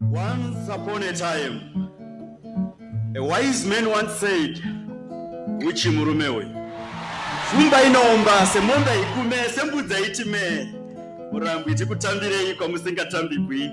Once upon a time, a wise man once said, Uchi murume uyu. Shumba inoomba semombe ikume sembudza itime. Murambo iti kutambirei kwamusingatambikwi.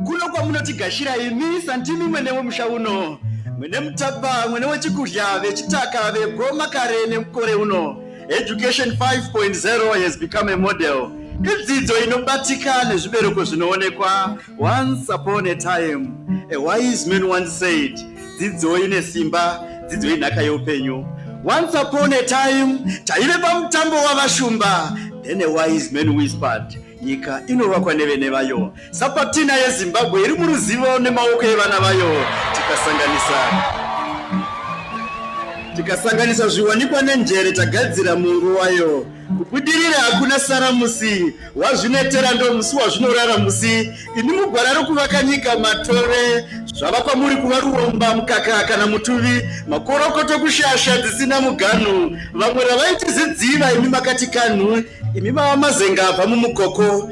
Kuno kwamunotigashira imi sandimi mwene wemusha uno. Mwene mutapa, mwene wechikudya, vechitaka, vegoma kare nemukore uno. Education 5.0 has become a model idzidzo inobatika nezvibereko zvinoonekwa once upon a time a wise man once said dzidzo ine simba dzidzo inhaka yeupenyu once upon a time taive pamutambo wavashumba then a wise man whispered nyika inovakwa nevene vayo Sapatina yeZimbabwe iri muruzivo nemaoko evana vayo tikasanganisa tikasanganisa zviwanikwa nenjere tagadzira mungu wayo kubudirira hakuna sara musi wazvinetera ndo musi wazvinorara musi ini mugwara rokuvaka nyika matore zvava kwamuri kuva ruomba mukaka kana mutuvi makorokoto kushasha dzisina muganhu vamwe ravaiti zidziva imi makati kanhu imi vava mazenga abva mumukoko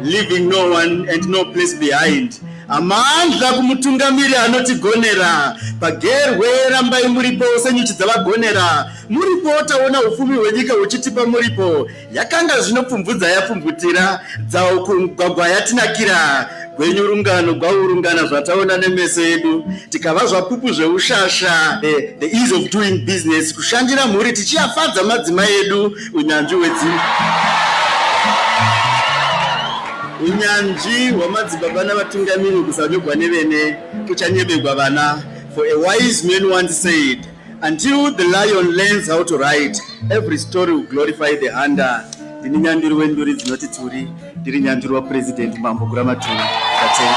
Leaving no one and no place behind. Amandla kumutungamiri anotigonera pagerwe rambai muripo senyuchi dzavagonera muripo taona ufumi hwenyika huchitipa muripo yakanga zvinopfumvudza yapfumvutira dzawo kugwagwa yatinakira gwenyu rungano gwaurungana zvataona nemeso edu tikava zvapupu zveushasha eh, the ease of doing business kushandira mhuri tichiyafadza madzima edu Unyanzvi hwedzimba unyanzvi hwamadzibaba navatungamiri kusanyogwa nevene kuchanyebegwa vana for a wise man once said until the lion learns how to write every story will glorify the hunter ndini nyanduri wenduri dzinoti turi ndiri nyanduri wapurezidendi mambo guramaturi katenga